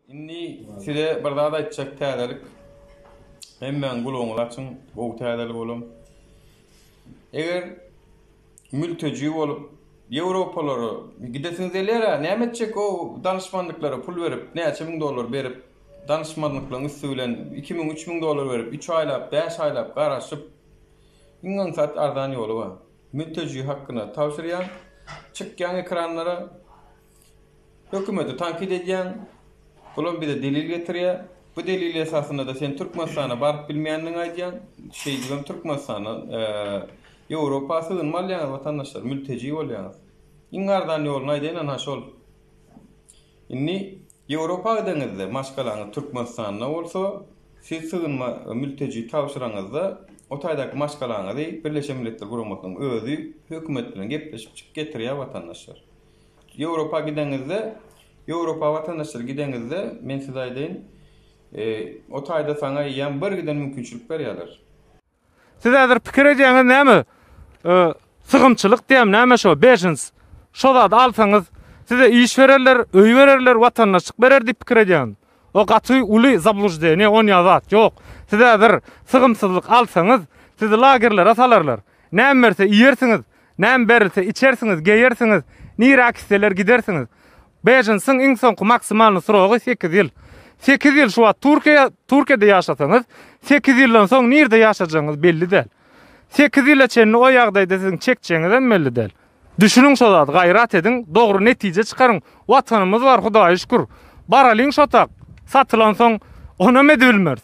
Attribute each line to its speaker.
Speaker 1: Indi size bir zat aýtjak täzelik. Hemmäň gulagyňyzy açyň, gowy täzelik olam. Eger mülteji bolup Ýewropalara gidesiňiz gelýär-ä, näme etjek o danyşmanlyklara pul berip, näçe müň dollar berip, danyşmanlyklaryň üsti bilen iki müň, üç müň dollar berip, üç aýlap, bäş aýlap garaşyp, iň aňsat arzan ýoly bar. Münteji hakkyna tabşyrýaň, çykýaň ekranlara, hökümeti tankyt edýäň, bulam bize delil getirýär, bu delil esasynada sen Türkmenistana baryp bilmeýändigiňi aýdýaň, şeýdibem Türkmenistana, Ýewropa sygynma alýaňyz watandaşlar, mülteji bolýaňyz. Iň arzan ýoluny aýdaýynana şol. Indi Ýewropa gideniňizde, maşgalaňyz Türkmenistanda bolsa, siz sygynma mülteji tabşyraňyzda, o taýdaky maşgalaňyzy Birleşen Milletler Guramasynyň özi hökümet bilen gepleşip getirýär watandaşlar. Ýewropa gideniňizde, Ýewropa watandaşlar gideniňizde, men size aýdaýyn, o taýda saňa ýam bir giden mümkinçilik berýärler. Siz
Speaker 2: häzir pikir edýäňiz näme? E, sygymçylyk diýem, näme şo, bejens. Şo zady alsaňyz, size iş bererler, öý bererler, watandaşlyk berer diýip pikir edýäňiz. O gaty uly zablujdenýe, on ýa zat ýok. Siz häzir sygymsyzlyk alsaňyz, sizi lagerlere salarlar. Näme berse iýersiňiz, Näme berilse, içersiňiz, geýersiňiz, niräk isleler gidersiňiz. Bejinsiň iň soňky maksimalny srogy sekiz ýyl. Sekiz ýyl şu wagt Türkiýe, Türkiýede ýaşasaňyz, sekiz ýyldan soň nirde ýaşajagyňyz belli däl. Sekiz ýyla çenli o ýagdaýda siziň çekjegiňizem belli däl. Düşüniň şo zady, gaýrat ediň, dogry netije çykaryň. Watanymyz bar, Hudaýa şükür. Baralyň şo tak. Satylansoň, onam edibilmeris.